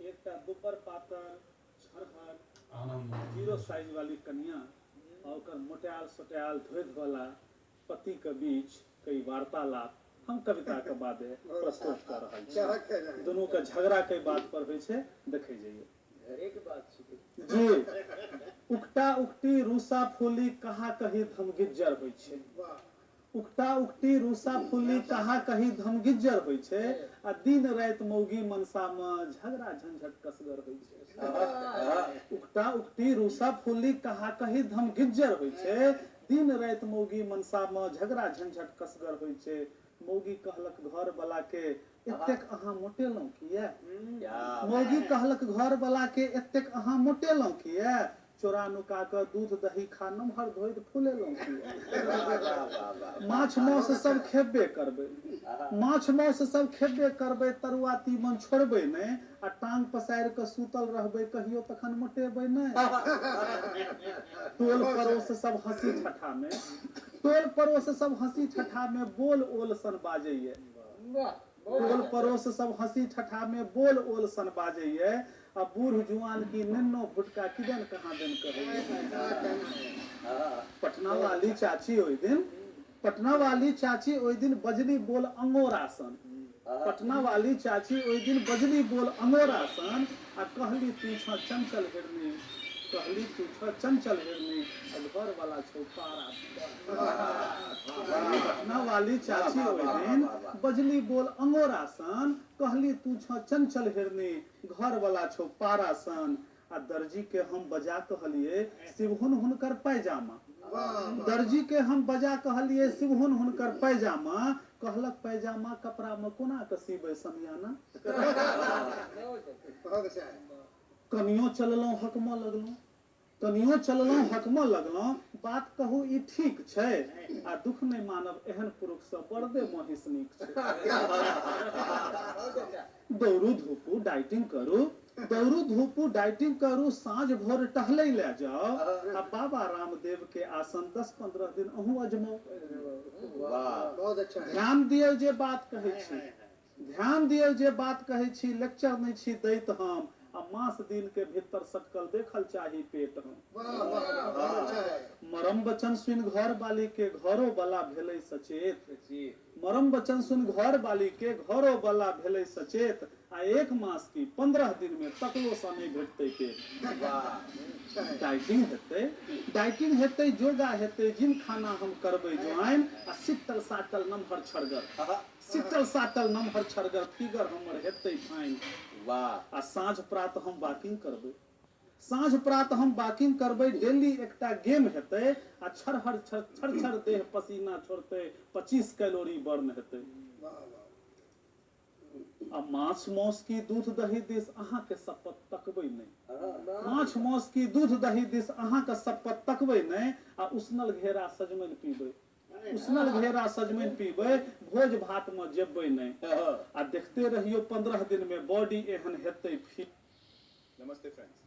एकटा दुब्बर पातर झरहर जीरो साइज वाली कनियाँ आ ओकर मोटायल सोटायल धोधि वाला पति क बीच क ई वार्तालाप हम कविता क बादे प्रस्तुत क रहल छी। दुनू क झगड़ा कइ बात पर होइ छै देखै जइयौ। घरे क बात छिकै। जी। उकटा-उकटी, रूसा-फूली, कहा-कही धमगिज्जर होइ छै। उकटा-उकटी रूसा-फुल्ली कहाँ कही धमगिज्जर होइ छै आ दिन-राति मउगी-मनसा मे झगड़ा-झंझट कसगर होइ छै। उकटा-उकटी रूसा-फुल्ली कहाँ कही धमगिज्जर होइ छै। दिन-राति मउगी-मनसा मे झगड़ा-झंझट कसगर होइ छै। मउगी कहलक घर बला के एतेक अहाँ मोटेलहुँ किए? मौगी कहलक घरबलाकेँ एतेक अहाँ मोटेलहुँ किए? चोरा-नुका कऽ दूध-दही खा नमहर धोधि फुलेलहुँ किए? माछ-मौस सभ खेबे करबै। माछ-मौस सभ खेबे करबै, तरुआ-तीमन छोड़बै नहि आ टाँग पसारि कऽ सूतल रहबै कहियो तखन मोटेबै नहि। टोल-पड़ोस सभ हँसी-ठट्ठामे। टोल-पड़ोस सभ हँसी-ठट्ठामे बोल-ओल सन बाजैए। टोल-पड़ोस सभ हँसी-ठठा मे बोल-ओल सन बाजैए आ बूढ़-जुआन की नेन्नो-भुटका किदेन कहाँदेन कहैए। पटनावाली चाची ओहि दिन पटनावाली चाची ओहि दिन बजली बोल अँगोरा सन पटनावाली चाची ओहि दिन बजली बोल अँगोरा सन। आ कहली तू छऽ चंचल हिरनी कहली तू छऽ चंचल हिरनी आ घर वाला छौ पारा पटना वाली चाची ओहि दिन बजली बोल अंगोरा सन कहली तू छऽ चंचल हिरनी घर वाला छौ पारा सन आ दर्जी के हम बजा कहलिए शिवहुन हुनकर पैजामा दर्जी के हम बजा कहलिए शिवहुन हुनकर पैजामा कहलक पैजामा कपड़ा मे कोना क सीबै समियाना। कनियो चललहुँ हकमऽ लगलहुँ। कनियो चललहुँ हकमऽ लगलहुँ। बात कहू ई ठीक छै? आ दुख नहि मानब एहन पुरुख सँ बरदे महिष नीक छै। दौड़ू धूपू डाइटिंग करू दौड़ू धूपू डाइटिंग करू साँझ भोर टहलै लए जाउ आ बाबा रामदेव के आसन दस पन्द्रह दिन अहूँ अजमाउ। ध्यान दियौ जे बात कहै छी। ध्यान दियौ जे बात कहै छी लेक्चर नै छी दैत हम आ मास दिन के भित्तर सटकल देखल चाही पेट हम। मरम वचन सुनि घरबाली के घरो बला भेलै सचेत। मरम बचन सुनि घर बाली के घरो बला भेलै सचेत आ एक मास की पन्द्रह दिन मे तकलो सँ नहि भेटतै पेट। वाह। डाइटिंग हेतै। डाइटिंग हेतै, जोगा हेतै, जिम खाना हम करबै ज्वाइन आ सिट्टल साट्टल नमहर छड़गर। अहह। सिट्टल साट्टल नमहर छड़गर फिगर हमर हेतै फाइन। वाह। आ साँझ प्रात हम वाकिंग करबै। साँझ प्रात हम बाकिंग करबै डेली एकटा गेम हेतै आ छरहर छर छर छर देह पसीना छोड़तै पचीस कैलोरी बर्न हेतै आ माछ मौस की दूध दही दिस अहाँ के सप्पत तकबै नै माछ मौस की दूध दही दिस अहाँ के सप्पत तकबै नै आ उसनल घेरा सजमनि पीबै। उसनल घेरा सजमनि पीबै, भोज भात मे जेबै नहि। आ देखते रहियौ पन्द्रह दिन मे बॉडी एहन हेतै फिट। नमस्ते फ्रेंड्स।